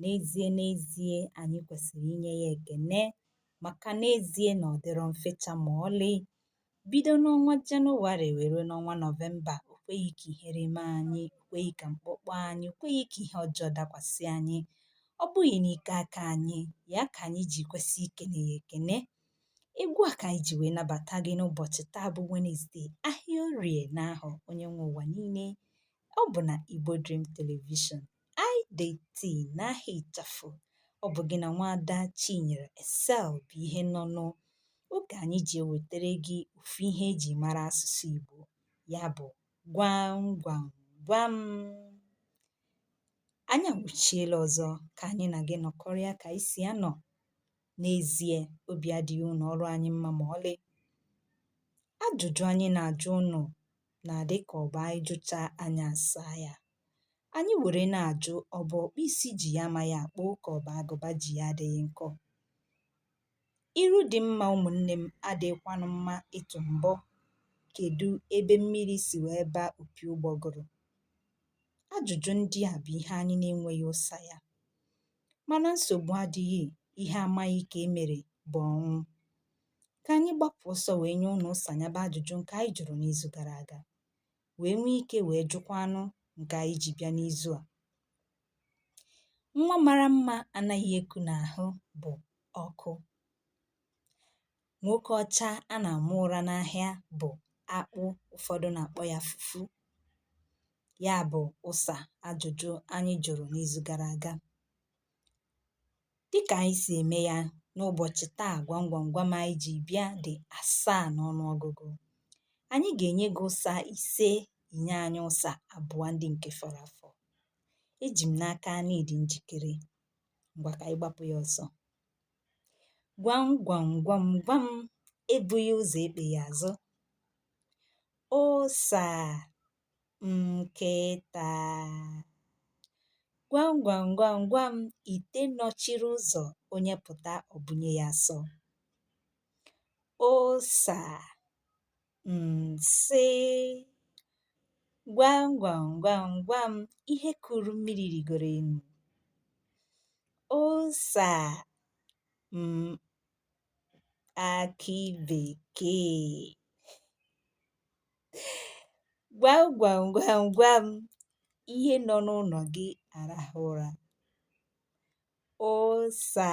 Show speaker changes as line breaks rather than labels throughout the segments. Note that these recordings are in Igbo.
N'ezie n'ezie anyị kwesịrị inye ya ekene maka n'ezie na ọ dịrọ mfecha ma ọlị. Bido n'ọnwa Jenụwarị wee ruo n'ọnwa Nọvemba, o kweghị ka ihere mee anyị, o kweghị ka mkpọ kpọọ anyị, o kweghị ka ihe ọjọọ dakwasị anyị. Ọ bụghị n'ike aka anyị, ya ka anyị ji kwesị ikene ya ekene. Egwu a ka anyị ji wee nabata gị n'ụbọchị taa bụ Wenesde, ahịa orie n'ahọ onye nwe ụwa niile. Ọ bụ na Igbo Dream Television. IDT n'aha ịchafụ. Ọ bụ gị na nwaada Chinyere Excel bụ ihe nọ nụ. Oge anyị ji ewetara gị ofu ihe eji mara asụsụ Igbo. Ya bụ gwam gwam gwam. Anyị awụchiela ọzọ ka anyị na gị nọkọrịa ka anyị si anọ. N'ezie, obi adịghị ụlọ ọrụ anyị mma ma ọlị. Ajụjụ anyị na-ajụ ụnụ na-adị ka ọ bụ anyị jụchaa anyị asaa ya. Anyị were na-ajụ ọ bụ ọkpụ isi ji ya amaghị akpụ ka ọ bụ agụba ji ya adịghị nkọ. Iru dị mma ụmụnne m adịghịkwanụ mma ịtụ mbọ. Kedụ ebe mmiri si wee baa opi ụgbọgụrụ? Ajụjụ ndị a bụ ihe anyị na-enweghị ụsa ya. Mana nsogbu adịghị, ihe amaghị ka e mere bụ ọnwụ. Ka anyị gbapụ ọsọ wee nye ụnụ ụsa ya bụ ajụjụ nke anyị jụrụ n'izu gara aga. wee nwee ike wee jụkwa ụnụ nke anyị ji bịa n'izu a nwa mara mma anaghị eku n'ahụ bụ ọkụ nwoke ọcha a na-ama ụra n'ahịa bụ akpụ ụfọdụ na-akpọ ya fufu ya bụ ụsa ajụjụ anyị jụrụ n'izu gara aga dịka anyị si eme ya n'ụbọchị taa gwam gwam gwam anyị ji bịa dị asaa n'ọnụọgụgụ anyị ga-enye gị ụsa ise i nye anyị ụsa abụọ ndị nke fọrọ afọ eji m n'aka na ị dị njikere ngwa ka anyị gbapụ ya ọsọ gwam gwam gwam gwam ebughị ụzọ ekpeghị azụ ụsa nkịta gwam gwam gwam gwam ite nọchiri ụzọ onye pụta ọ bụnye ya asọ ụsa nsị gwam gwam gwam gwam ihe kuru mmiri rigoro enu ụsa m akị bekee Gwam gwam gwam gwam, ihe nọ n'ụlọ gị arahụ ụra. Ụsa,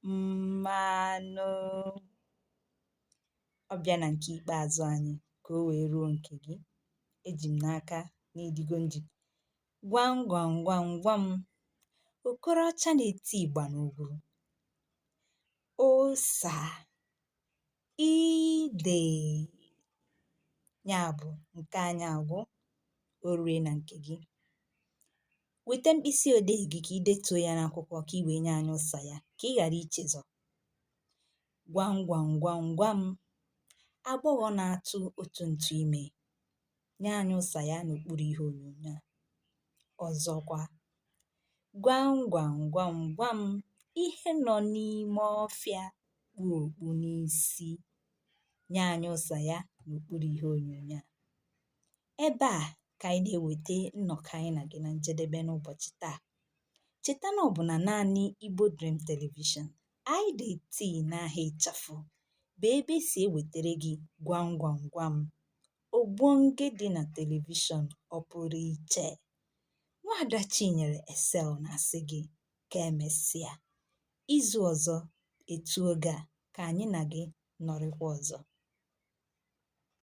mmanụ. Ọ bịa na nke ikpeazụ anyị ka o wee ruo nke gị. Eji m n'aka na ị dịgo njikere. Gwam gwam gwam gwam, okoroọcha na-eti ịgba n'ugwu. Ụsa, idèe ya bụ̀ ǹke anyị àgwụ o ruo na ǹkè gị. Wète mkpịsị òdeè gị kà i detuo ya n'akwụkwọ kà i wèe nye anyị ụsa ya kà ị ghàra ichezọ. Gwam gwam gwam gwam, agbọghọ na-atụ otu ntụ ime. nye anyị ụsa ya n'okpuru ihe onyonyo a ọzọkwa gwam gwam gwam gwam ihe nọ n'ime ọfịa kpu okpu n'isi nye anyị ụsa ya n'okpuru ihe onyonyo a ebe a ka anyị na-eweta nnọkọ anyị na gị na njedebe n'ụbọchị taa cheta na ọ bụ na naanị Igbo Dream Television IDT n'aha ịchafụ bụ ebe e si ewetara gị gwam gwam gwam. Ogbonge dị na telivishọn ọ pụrụ iche. Nwaada Chinyere Excel na-asị gị ka emesịa. Izu ọzọ etu oge a ka anyị na gị nọrịkwa ọzọ.